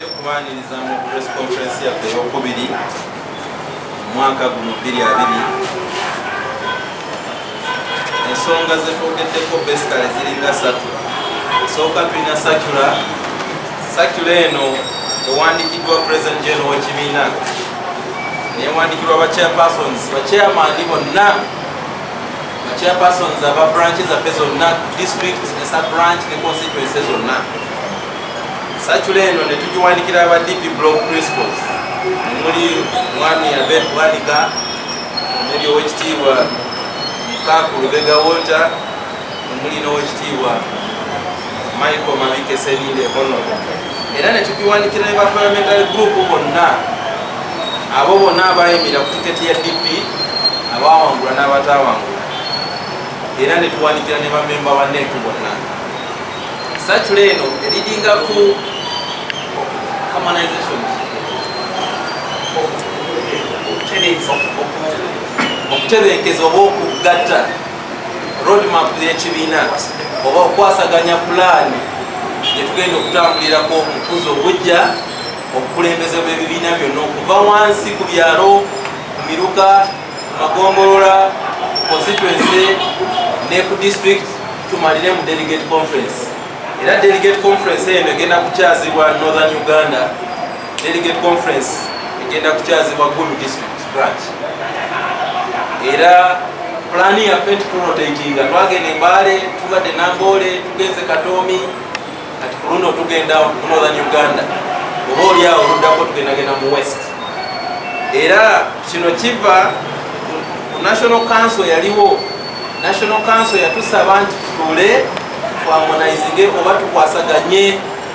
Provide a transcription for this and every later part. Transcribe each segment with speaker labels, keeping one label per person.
Speaker 1: Okubaaniriza mu press conference yaffe ey'okubiri omwaka guno bbiri abiri ensonga zetwogeddeko besikale ziringa satu esooka tulina sakula sakula eno ewandikiddwa president general w'ekibiina newandikirwa ba chairpersons ba chairman bonna ba chairpersons aba branch zaffe zonna district esa branch ne constituency zonna Sakula eno ne tugiwandikira aba DP Block Principals omuli Mwami Abed Bwanika omuli owekitiibwa Mukaaku Lubega Walter omuli n'owekitiibwa Michael Mabike Selinde Hono era ne tugiwandikira ne ba parliamentary group bonna abo bonna abayimira ku tiketi ya DP abawangula n'abatawangula era ne tuwandikira ne bamemba ba NEC bonna Satula eno eridinga ku harmonization okutebenkeza oba okugatta roadmap y'ekibiina oba okwasaganya pulaani gyetugenda okutambulirako mukuza obujja obukulembeze bw'ebibiina byonna okuva wansi ku byalo ku miruka magombolola constituency ne ku district tumalire mu delegate conference era delegate conference eno egenda kukyazibwa northern uganda delegate conference egenda kukyazibwa gulu district branch era pulani yaffe nti turotatinga twagenda embaale tubadde namboole tugenze katoomi kati ku luno tugenda mu northern uganda oba oli awo oluddako tugendagenda mu west era kino kiva ku national council yaliwo national council yatusaba nti tutuule twamonaizinge oba tukwasaganye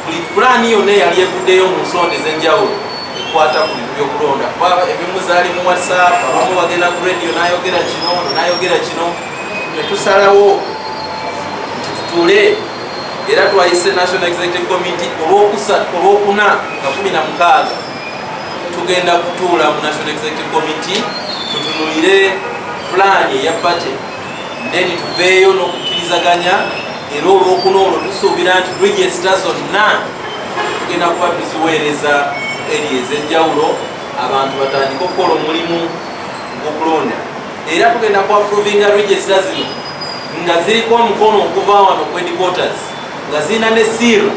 Speaker 1: buli pulaani yonna eyali evuddeyo mu nsonda ez'enjawulo ekwata ku bintu by'okulonda kuba ebimu zaali mu whatsapp abamu bagenda ku radio nayogera kino nayogera kino netusalawo nti tutuule era twayise national executive committee olwokuna nga kumi na mukaaga tugenda kutuula mu national executive committee tutunulire pulaani eya bate then tuveeyo n'okukkirizaganya era olwokuna olwo tusuubira nti regisita zonna tugenda kuba tuziweereza eri ez'enjawulo abantu batandike okukola omulimu gwokulonda era tugenda ku approvinga registra zino nga ziriko omukono okuva wano ku headquarters nga zirina ne siira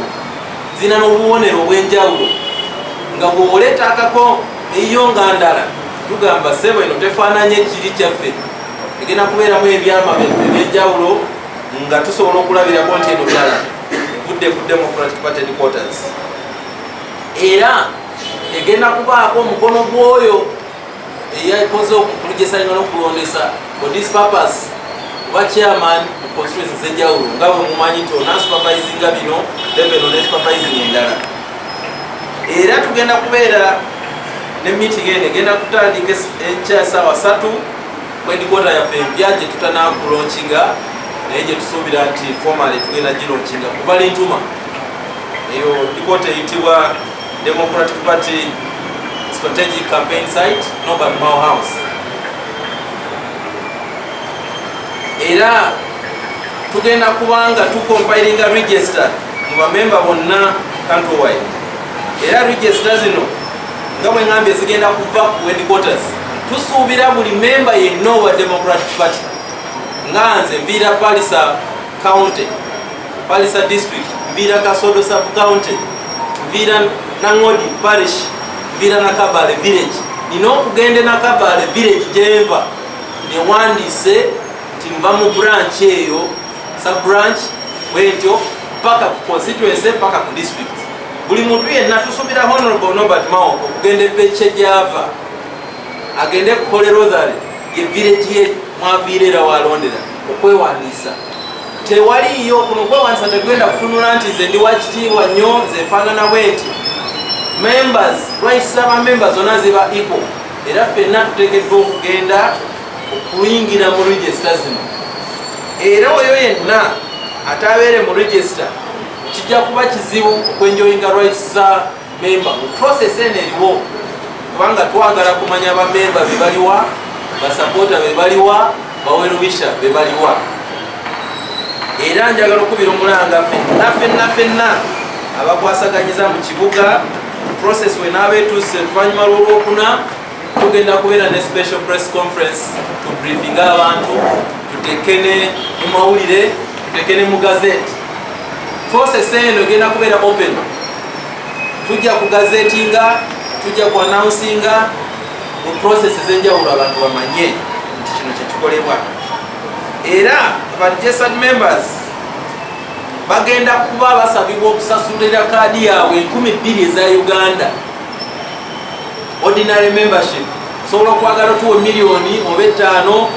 Speaker 1: zirina n'obubonero obw'enjawulo nga bw'oleeta akako eyiyo nga ndala tugamba sebo eno tefaananye kiri kyaffe egenda kubeeramu ebyama byaffe eby'enjawulo nga tusobola okulabirako nti eno byala evudde ku democratic party headquarters era egenda kubaako omukono gw'oyo eyakoze okukulijesanga nokulondesa for this purpose oba chairman mu constituency zenjawulo nga bwe mumanyi nti onasupervisinga bino level onesupervising endala era tugenda kubeera ne meeting eno egenda kutandika enkya saawa satu kwendikota yaffe empya gye tutanakulonkinga naye gye tusuubira nti formale tugenda gilonkinga kubalintuma eyo dikota eyitibwa Democratic Party strategic campaign site Norbert Mao House era tugenda kubanga tucompilinga register mu bamemba bonna countrywide era register zino nga bwe ngambye zigenda kuva ku headquarters tusuubira buli memba yenna owa democratic party nga nze mbiira palisa county Palisa District, Vira Kasodo Sub-County, Vira Nangodi Parish, Vira Nakabale Village. Nina okugende Nakabale Village jeva newandise timva mu branch eyo sub-branch wentyo paka ku constituency paka ku district. Buli muntu yenna tusubira Honorable Norbert Mao okugenda epeche java agende kuhole Rosary ye village ye mwaviirera walondera okwewandisa. tewaliyo kuno kwewanisa tegenda kutunula nti nze ndi wakitiibwa nnyo nze nfaanana bwenti members rights zaba members zona ziba ipo era ffenna tuteekeddwa okugenda okuyingira mu regisita zino era oyo yenna atabeere mu regisita kijja kuba kizibu okwenjoyinga rights za memba mu process eno eriwo kubanga twagala kumanya bamemba bebaliwa basapoota bebaliwa bawerubisha bebaliwa era njagala okubira omulanga fenna fenna fenna abakwasaganyiza mu kibuga process wenaaba etuuse oluvanyuma lwolwokuna tugenda kubeera ne special press conference to briefinga abantu tutekene mu mawulire tutekene mu gazeti process eno egenda kubeera open tujja ku gazetinga tujja ku announcinga mu process ezenjawulo abantu bamanye nti kino kyekikolebwa era abajesad members bagenda kuba basabibwa okusasulira kaadi yaabwe enkumi bbiri eza uganda ordinary membership osobola okwagala otuwa miliyoni oba ettaano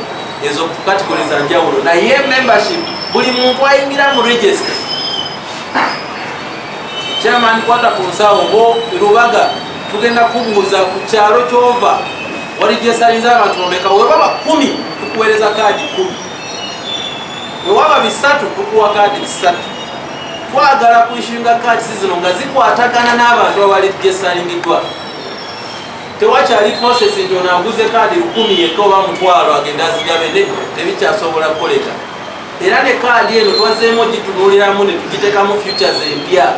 Speaker 1: ezo katikole za njawulo naye membership buli muntu ayingira mu register Chairman kwata ku nsawo bo Lubaga tugenda kubuuza ku kyalo kyova wali gyesalinza abantu bameka webaba kumi tukuweereza kaadi kumi wewaba bisatu tukuwa kaadi bisatu twagala kuishinga kaadi zino nga zikwatagana n'abantu abali gyesalingiddwa tewakyali process nti onanguze kaadi lukumi yekka oba mutwalo agenda azigabe ne tebikyasobola kukoleka era ne kaadi eno twazeemu ogitunuuliramu ne tugiteekamu futures empya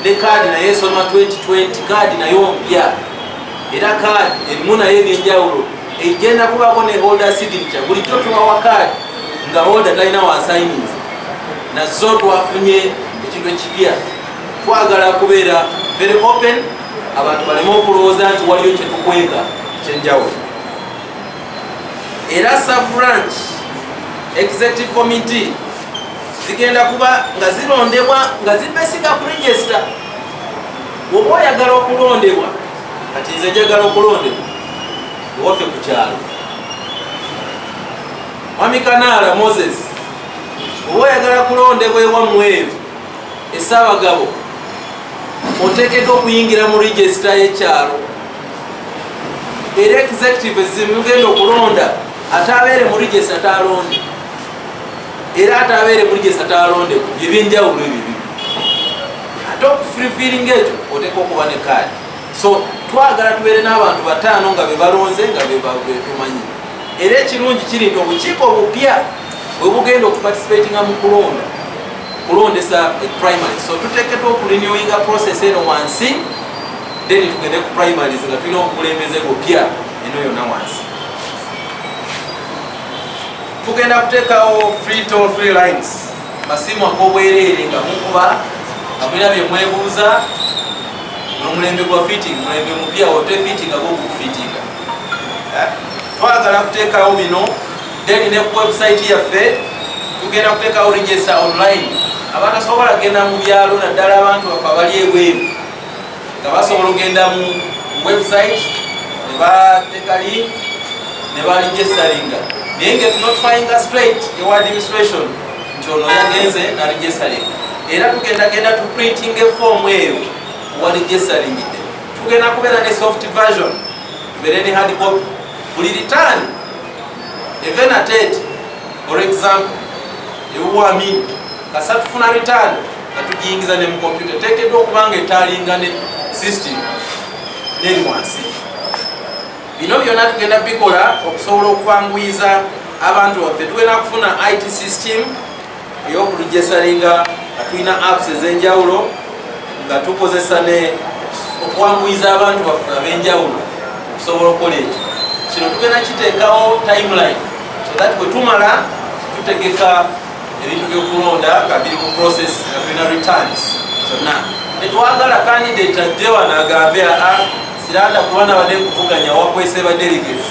Speaker 1: ne kaadi naye esoma 2020 kaadi nayo mpya era kaadi erimu naye ebyenjawulo egenda kubaako ne holder signature bulijjo tubawa kaadi nga holder talina wasayininzi nazo twafunye ekintu ekipya twagala kubeera very open abantu baleme okulowooza nti waliyo kyetukweka kyenjawulo era sub-branch executive committee zigenda kuba nga zirondebwa nga zibesiga ku register woba oyagala okulondebwa kati nze njagala okulondebwa ewaffe ku kyalo mwami kanaala moses oba oyagala kulondebwa ewamweru esaabagabo oteekeddwa okuyingira mu regisita y'ekyalo era executive ezimu ugenda okulonda atabeere mu regista talonde era atabeere mu regista talonde ebyenjawulo ebyo bibi ate okufulfiling ekyo oteeka okuba ne kaadi so twagala tubeere n'abantu bataano nga bebalonze nga betumanyi era ekirungi kiri nti obukiiko obupya bwebugenda okuparticipatinga mu kulonda kulondesa primary so tutekedwa okulinyoinga process eno wansi then tugende ku primaries nga tulina obukulembeze bupya eno yona wansi tugenda kuteekawo free toll free lines masimu agobwereere nga mukuba nga mulina bye mwebuuza nomulembe gwa fitting mulembe mupya ote fitting agokufitinga eh? twagala kuteekawo bino then ne ku website yaffe tugenda kuteekawo register online abatasobola genda mu byalo naddala abantu bafe abali ebweru nga basobola okugenda mu website ne bateeka link ne balijesalinga naye nga tunotfyinga straight ewa administration nti ono yagenze nalijesalinga era tugendagenda tuprinting efoomu eyo walijesalingidde tugenda kubeera ne soft version tubeere ne hard copy buli return evenated for example ewuwamini kasa tufuna return atujingiza ne mu computer tekedwa okubanga etalinga ne system neri wansi bino byona tugenda bikola okusobola okwanguyiza abantu baffe tugenda kufuna it system eyokulujesalinga nga tulina apps ezenjawulo nga tukozesa ne okwanguyiza abantu baffe abenjawulo okusobola okukola ekyo kino tugenda kiteekawo timeline so that bwetumala tutegeka ebintu byokulonda nga biri mu process nga tulina returns zonna tetwagala candidate ajje wano agambe aa siranda kuba nabadde kuvuganya wakwese ba delegates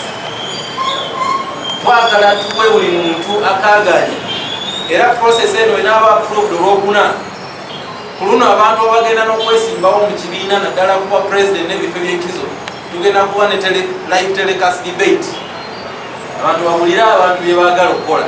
Speaker 1: twagala tuwe buli muntu akaganya era process eno enaaba approved olwokuna ku luno abantu abagenda n'okwesimbawo mu kibiina naddala kuba president n'ebifo ebyenkizo tugenda kuba ne live telecast debate abantu bawulire abantu bye baagala okukola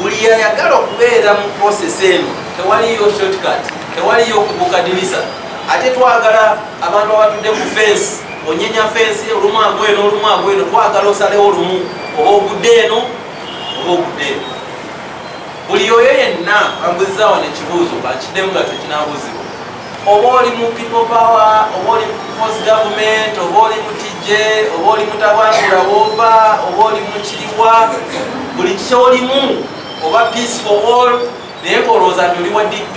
Speaker 1: buli yayagala okubeera mu process eno tewaliyo shortcut tewaliyo okubuka dirisa ate twagala abantu abatudde ku fensi onyenya fensi olumu agweno olumu agweno twagala osalewo olumu oba ogudde eno oba ogudde eno buli oyo yenna ambuzizawo nekibuuzo bakiddemu nga tekinabuzibwa oba oli mu people power oba oli post government oba oli mutijje oba oli mutabangula wova oba oli mukiriwa buli kyolimu oba peace for all naye kolowooza nti oli wa dp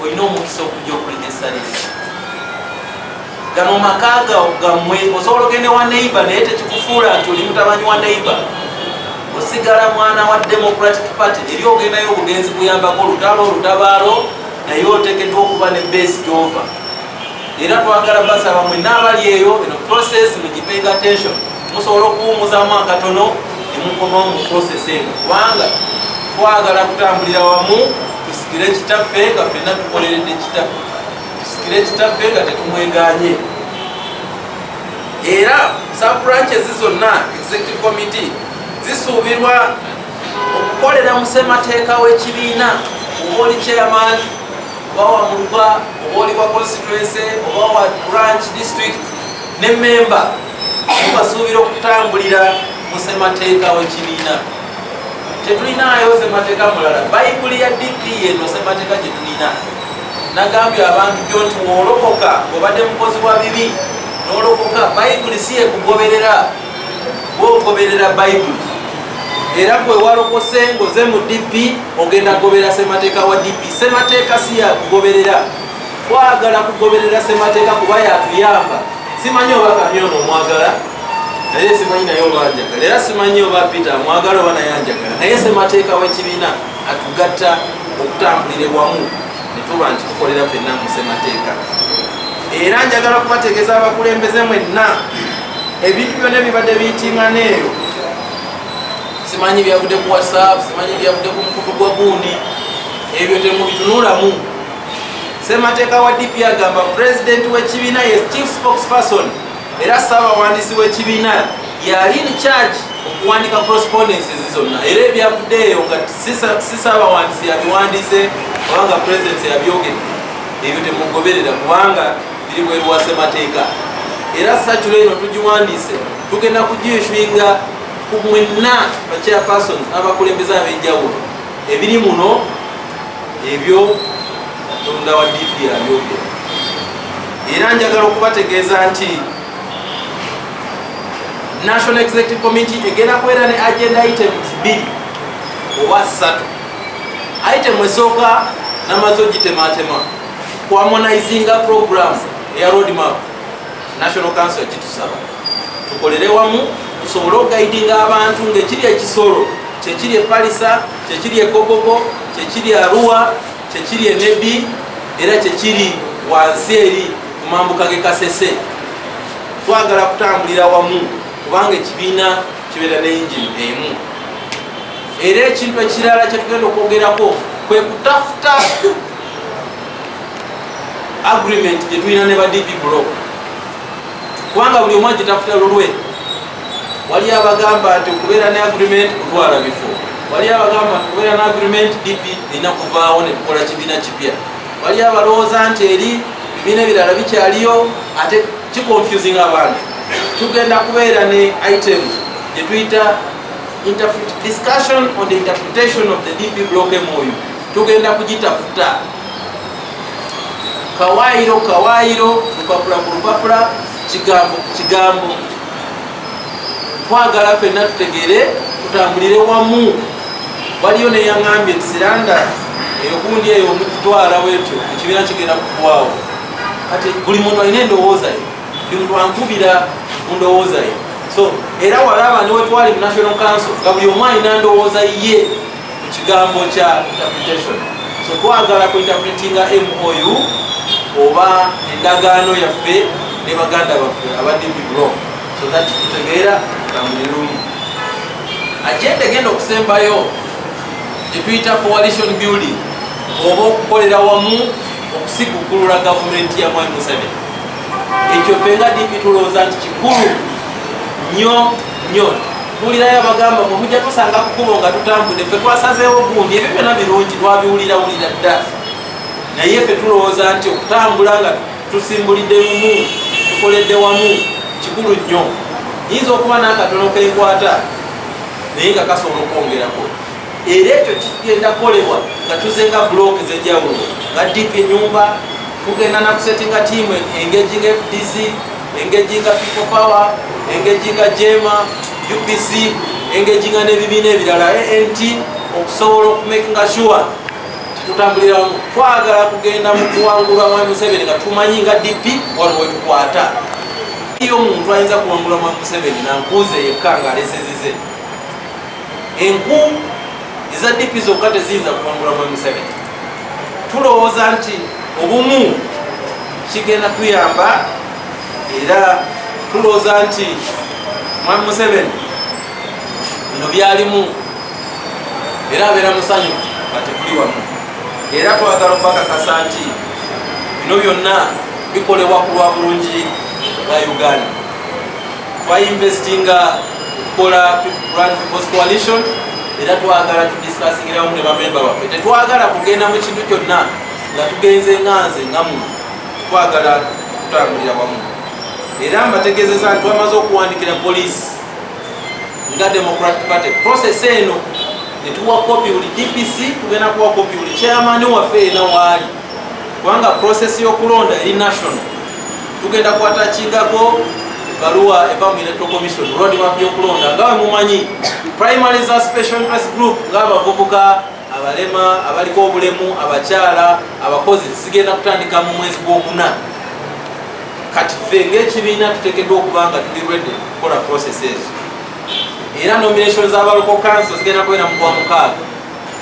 Speaker 1: olina omukisa okujja okuliga esalire gano maka gammwe osobola ogende wa neighbor naye tekikufuula nti oli mutabanyi wa neighbor osigala mwana wa democratic party eri ogendayo obugenzi kuyambako olutalo olutabaalo naye otekedwa okuba ne base gyova era twagala basaba mwena abali eyo eno process mugipay attention musobola okuwumuzamu akatono nemukomawo mu process eno kubanga twagala kutambulira wamu tusikire kitaffe nga fena tukoleredde kitaffe tusikire kitaffe nga tetumweganye era sub branches zonna executive committee zisuubirwa okukolera mu ssemateeka w'ekibiina oba oli chairman oba wa muluba oba oli wa constituency oba wa branch district ne memba mubasuubira okutambulira mu ssemateeka w'ekibiina tetulinaayo ssemateeka mulala bayibuli ya dp eno ssemateeka gye tulina nagambye abantu gyo nti woolokoka obadde mukozi wa bibi nolokoka bayibuli si yekugoberera bwogoberera bayibuli era gwe walokose ngoze mu dp ogenda kugoberera semateeka wa dp semateeka si yakugoberera twagala kugoberera semateeka kuba yatuyamba simanyi oba kamyona omwagala naye simanyi naye obanjagala era simanyi oba peter amwagala oba naye anjagala naye semateeka w'ekibiina atugatta okutambulire wamu netuba nti tukolera fenna mu ssemateeka era njagala kubategeeza abakulembeze mwenna ebintu byona ebibadde biyitingana eyo simanyi byavudde ku whatsapp simanyi byavudde ku mukutu gwa gundi ebyo temubitunulamu semateeka wa dp agamba pulezidenti w'ekibiina ye chief spokesperson era ssaabawandiisi w'ekibiina yali in charge okuwandika correspondences zonna era ebyavuddeeyo nga si ssaabawandiisi yabiwandiise kubanga pulezidenti yabyogedde ebyo temugoberera kubanga biri bweru wa ssemateeka era sacula eno tugiwandiise tugenda kugiishinga ku mwenna bachairpersons abakulembeza ab'enjawulo ebiri muno ebyo katonda wa DP abyogera era njagala okubategeeza nti national executive committee egenda kubeera ne agenda items bbiri oba ssatu item esooka namaze ogitematema kuamonizinga program eya roadmap national council ekitusaba tukolere wamu tusobole okugaidinga abantu ngaekiri ekisolo kyekiri epalisa kyekiri ekobogo kyekiri aruwa kyekiri enebi era kyekiri wansi eri ku mambuka ge kasese twagala kutambulira wamu kubanga ekibiina kibeera ne yingini emu era ekintu ekirala kyetugenda okwogerako kwe kutafuta agreement gyetulina ne badp blo kubanga buli omu agitafuta lulwe wali abagamba nti okubeera ne agreement kutwala bifo wali abagamba nti okubeera ne agreement dp erina kuvaawo ne tukola kibiina kipya wali abalowooza nti eri bibiina ebirala bikyaliyo ate kiconfusing abantu tugenda kubeera ne item gyetuyita discussion on the interpretation of the dp block mou tugenda kugitafuta kawaayiro kawaayiro lupapula ku lupapula kigambo kigambo twagala fenna tutegeere tutambulire wamu waliyo neyaŋambye kisiranda eyogundi eyo omukutwala wetyo ekibiina kigenda kukwawo kati buli muntu alina endowooza ye buli muntu ankubira mu ndowooza ye so era walaba niwetwali mu national council nga buli omu alina ndowooza ye ekigambo kya interpretation so twagala ku interpretinga mou oba endagaano yaffe ne baganda baffe abadibiblo so that tutegeera tambulirungi agenda egenda okusembayo gyetuyita coalition building oba okukolera wamu okusigukulula gavumenti ya mwami museveni ekyo fenga dipi tulowooza nti kikulu nyo nyo bulirayo abagamba mwe mujja tusanga kukubo nga tutambudde ffe twasazeewo gundi ebyo byona birungi twabiwulirawulira dda naye ffe tulowooza nti okutambula nga tusimbulidde lumu tukoledde wamu kikulu nnyo nyinza okuba n'akatono kenkwata naye nga kasobola okwongerako era ekyo kigenda kukolebwa nga tuzenga bulooka ez'enjawulo nga dipa enyumba tugenda nakusetinga tiimu engejinga fdc engejji nga people power engejji nga jema upc engejji nga n'ebibiina ebirala ant okusobola okumakinga sure tutambulira wamu twagala kugenda mu kuwangula mwami museveni nga tumanyi nga dp wano wetukwata iyo omuntu ayinza kuwangula mwami museveni nankuuze yekka nga alesezize enku eza dp zokka teziyinza kuwangula mwe museveni tulowooza nti obumu kigenda tuyamba era tulowooza nti mwami museveni bino byalimu era abeera musanyu atekuli wamu era twagala okubakakasa nti bino byonna bikolebwa ku lwa bulungi bwa uganda twayinvestinga kukola Grand People's Coalition era twagala tudisikasingira wamu ne bamemba baffe tetwagala kugenda mu kintu kyonna nga tugenze nga nze nga mu twagala kutambulira wamu era mbategeezeza nti twamaze okuwandikira poliisi nga democratic party process eno netuwa kopi buli dpc tugenda kuwa kopi buli chairman waffe ena waali kubanga process y'okulonda eri national tugenda kwatakigako baluwa eva mu electoral commission roadmap y'okulonda nga we mumanyi primary za special interest group ng'abavubuka abalema abaliko obulemu abakyala abakozi zigenda kutandika mu mwezi gw'okuna kati ffe ng'ekibiina tutekeddwa okuba nga tuli redi okukola process ezo era nomination za baloko kanso zigenda kubeera mu gwamukaaga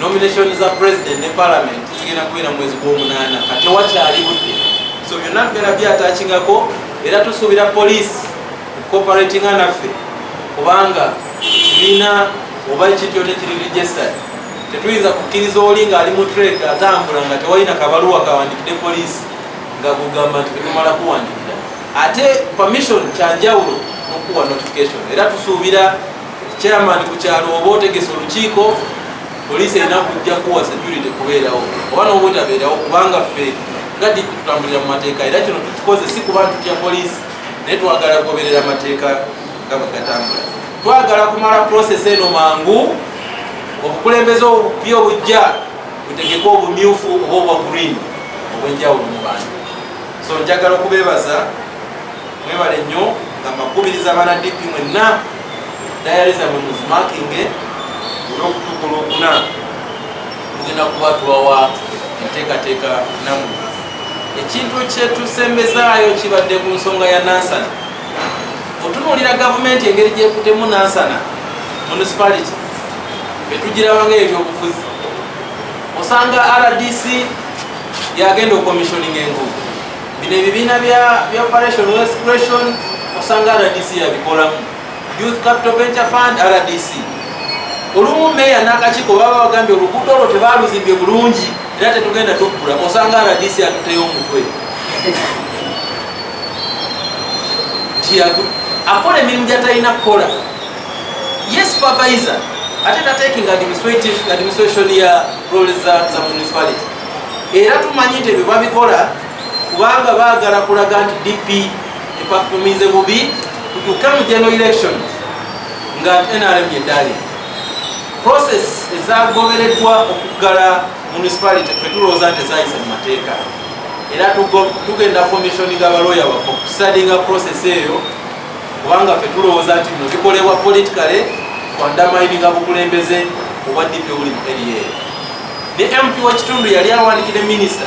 Speaker 1: Nomination za president ne parliament zigenda kubeera mu mwezi gw'omunaana ka tewakyali budde so byonna tugenda byatachingako era tusuubira police cooperatinga naffe kubanga kibiina oba ekityo tekiri registered tetuyinza kukkiriza oli ng'ali mu trade atambula nga tewalina kabaluwa kawandikidde police nga kugamba nti tetumala kuwandikira ate permission kyanjawulo nokuwa notification era tusuubira chairman ku kyalo oba otegese olukiiko poliisi erina kujja kuwa security kubeerawo oba noba otabeerawo kubanga ffe nga diki tutambulira mu mateeka era kino tukikoze si kuba ntutya poliisi naye twagala kugoberera amateeka nga bwegatambula twagala kumala process eno mangu obukulembeze obubi obujja butegeke obumyufu oba obwa green obwenjawulo mu bantu so njagala okubeebaza Mwebale nnyo nga makubiriza bana DP mwenna dayali zamwe muzimakinge olwokutuuka olwokuna mugenda kuba tuwawa enteekateeka namu ekintu kyetusembezaayo kibadde ku nsonga ya nansana otunuulira gavumenti engeri gyekutemu nansana municipality betugirabanga ebyobufuzi osanga rdc yagenda okomissioninga enguudo Bino ebibiina bya Operation Wealth Creation osanga RDC yabikolamu, Youth Capital Venture Fund RDC. Olumu meeya n'akakiiko baba bagambye oluguudo olwo tebaaluzimbye bulungi era tetugenda tuggula, osanga RDC atuteyo omutwe nti akola emirimu gyatalina kukola ye supervisor ate tatekinga administration ya roles za municipality era tumanyi nti ebyo babikola kubanga baagala kulaga nti dp epafumize bubi tutuuke mu general election nga nrm yeddaali process ezagobereddwa okuggala municipality fetulowooza nti ezayisa mu mateeka era tugenda commissioni nga balooya waffe okusadinga process eyo kubanga fetulowooza nti bino bikolebwa politicale kwandamaininga bukulembeze obwa dp obuli mu area eyo ne MP w'ekitundu yali awandikide minisita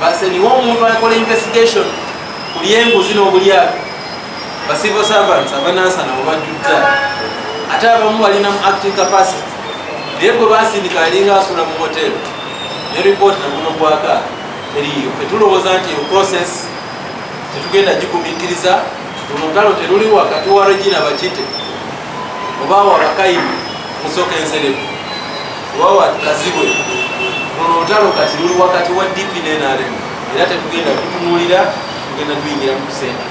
Speaker 1: baseniwo omuntu akola investigation ku lyenguzi n'obulyato ba civil servants abanansana webajjudda ate abamu balina mu acting capacity naye gwe basindika alinga asula mu hotel ne report naguno gwaka teriyo fe tulowooza nti eyo process tetugenda gigumikiriza olutalo teruli wakati wa regina bakite oba wa bakayimu musoka enserebu oba wa kazibwe luno olutalo kati luli wakati wa dp nenrm era tetugenda kutunulira tugenda tuyingira mu kusente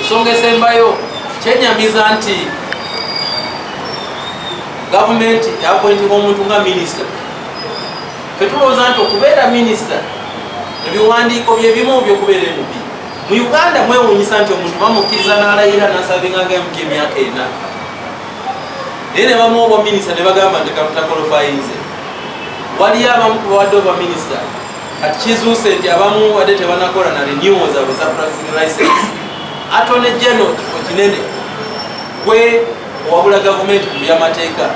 Speaker 1: ensonga esembayo kyenyamiza nti gavumenti yapointinga omuntu nga minisita fetulowooza nti okubeera minisita ebiwandiiko byebimu byokubeera emubi mu uganda mwewunyisa nti omuntu bamukkiriza n'alayira nasabinganga emuka emyaka ena naye ne bamuwa obwaminisita ne bagamba nti kalutakolofayinze waliyo abamu ku bawadde obwaminisita kati kizuuse nti abamu wadde tebanakola na renewal zaabwe za pracing license atone geno kifo kinene gwe owabula gavumenti mu byamateeka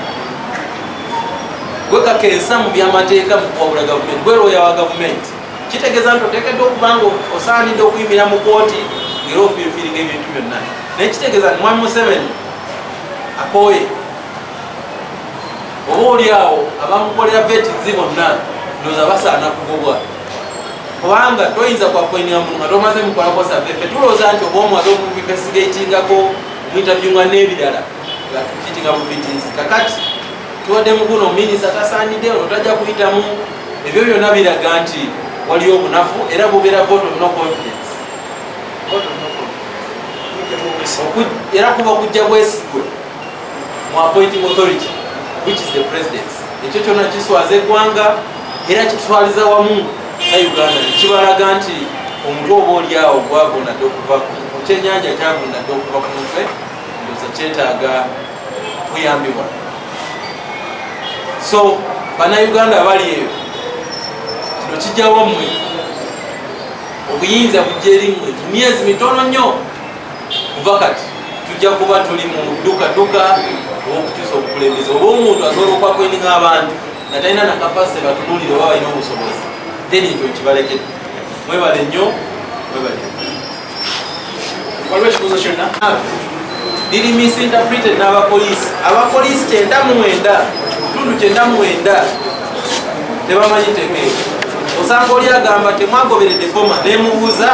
Speaker 1: gwe kakensa mu byamateeka mu kuwabula gavumenti gwe lwoya wa gavumenti kitegeeza nti oteekeddwa okuba nga osaanidde okuyimira mu kooti ngera ofiifiiringa ebintu byonna naye kitegeeza nti mwami museveni akooye oba oli awo abamukolera vetinzi bonna ndoza basaana kugobwa kubanga toyinza kwakwenira muntu nga tomaze mukolako save fe tulowooza nti oba omuwaze okumuvivesigatingako omwintabyunga n'ebirala nga tufitinga bufitinzi kakati tubadde mukuno minisa tasaanidde ono tajja kuyitamu ebyo byonna biraga nti waliyo obunafu era bubeera vote of no confidence era kuba okujja bwesigwe mu appointing authority which is the presidence ekyo kyona kiswaza eggwanga era kitutwaliza wamu na uganda kibalaga nti omutwe oba olyawo gwavundadde okuva ku kyenyanja kyavundadde okuva ku mutwe ndoza kyetaaga kuyambibwa so banauganda abali eyo kino kijawo mwe obuyinza bujja eri mwe mu myezi mitono nnyo kuva kati tujja kuba tuli mu dukaduka owokukyusa obukulembeze oba omuntu asobola okwakweninga abantu nga talina nakapasite batunulire oba balina obusobozi then ekyo kibalekede mwebale nnyo mwebale
Speaker 2: waliwo ekibuuzo kyonna biri
Speaker 1: misinterpreted n'abapoliisi abapoliisi kyenda mwenda kitundu kyenda mwenda tebamanyi tegeeo osanga oli agamba temwagoberedde boma nemubuuza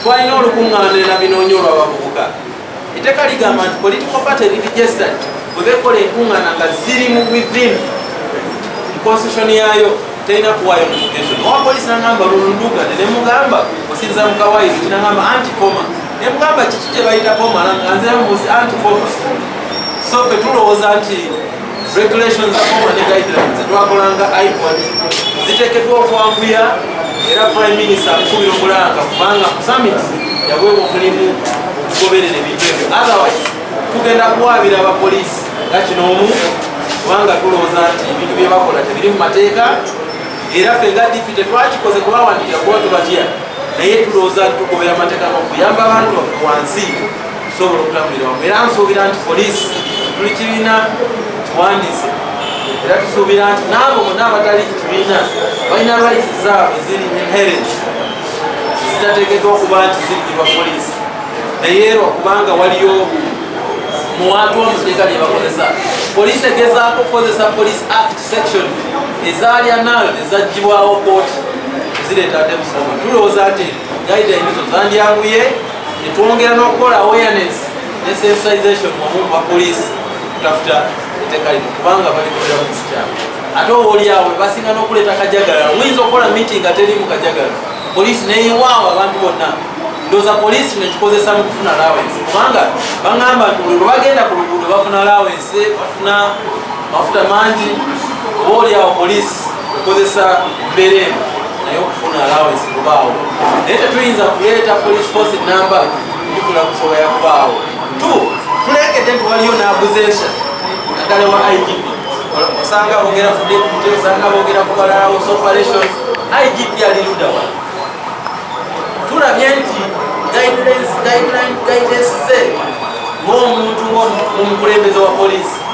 Speaker 1: twalina olukuŋŋaana era binoonyi olw'abavubuka Etteeka ligamba nti political party eri registered bwe bekola enkuŋŋaana nga ziri mu within constitution yaayo terina kuwaayo notification. Owa poliisi nangamba lulunduga ne mugamba osinza mukawaayo kinangamba anti koma ne mugamba kiki kye bayita koma nga nziramu musi anti koma so fe tulowooza nti Regulations akoma ne guidelines zetwakolanga IPOD ziteekeddwa okwanguya era Prime Minister akubira omulanga kubanga ku summit yaweebwa omulimu okugoberera ebintu ebyo otherwise tugenda kuwaabira abapoliisi nga kino omu kubanga tulowooza nti ebintu bye bakola tebiri mu mateeka era ffe nga DP tetwakikoze kubawandikira kuba tubatya naye tulowooza nti tugoberera amateeka gokuyamba abantu wansi okusobola okutambulira wamu era nsuubira nti poliisi tuli kibiina tuwandiise era tusuubira nti naabo bona abatali kibiina balina rights zaabwe ziri inherent zitateekeddwa okuba nti zirigirwa poliisi naye erwa kubanga waliyo muwantu omuteeka lyebakozesa poliisi egezaako okukozesa police act section ezaali anal ezagibwawo kooti zireeta ate musoma tulowooza nti gaidayinizo zandyanguye netwongera n'okukola awareness ne sensitization wamu ba poliisi okutafuta etteeka lino kubanga balikolera mu kisikyalo ate obaolyawo basinga n'okuleeta kajagalalo muyinza okukola meeting ateri mu kajagalo poliisi neyewaawo abantu bonna ndoza poliisi nekikozesa mu kufuna lawensi kubanga baŋamba nti buli lwebagenda ku luguudo bafuna lawensi bafuna mafuta mangi oba olyawo poliisi okozesa mbeera eno ey'okufuna alawensi kubaawo naye tetuyinza kuleeta police force namba tufuna kusobola yakubaawo tu tulengedde nti waliyo n'aguza ensa naddala wa igp osanga bogera ku deputy osanga bogera ku balala was operations igp ali ludawa tulabye nti guidelines ze ng'omuntu ng'omukulembeze wa poliisi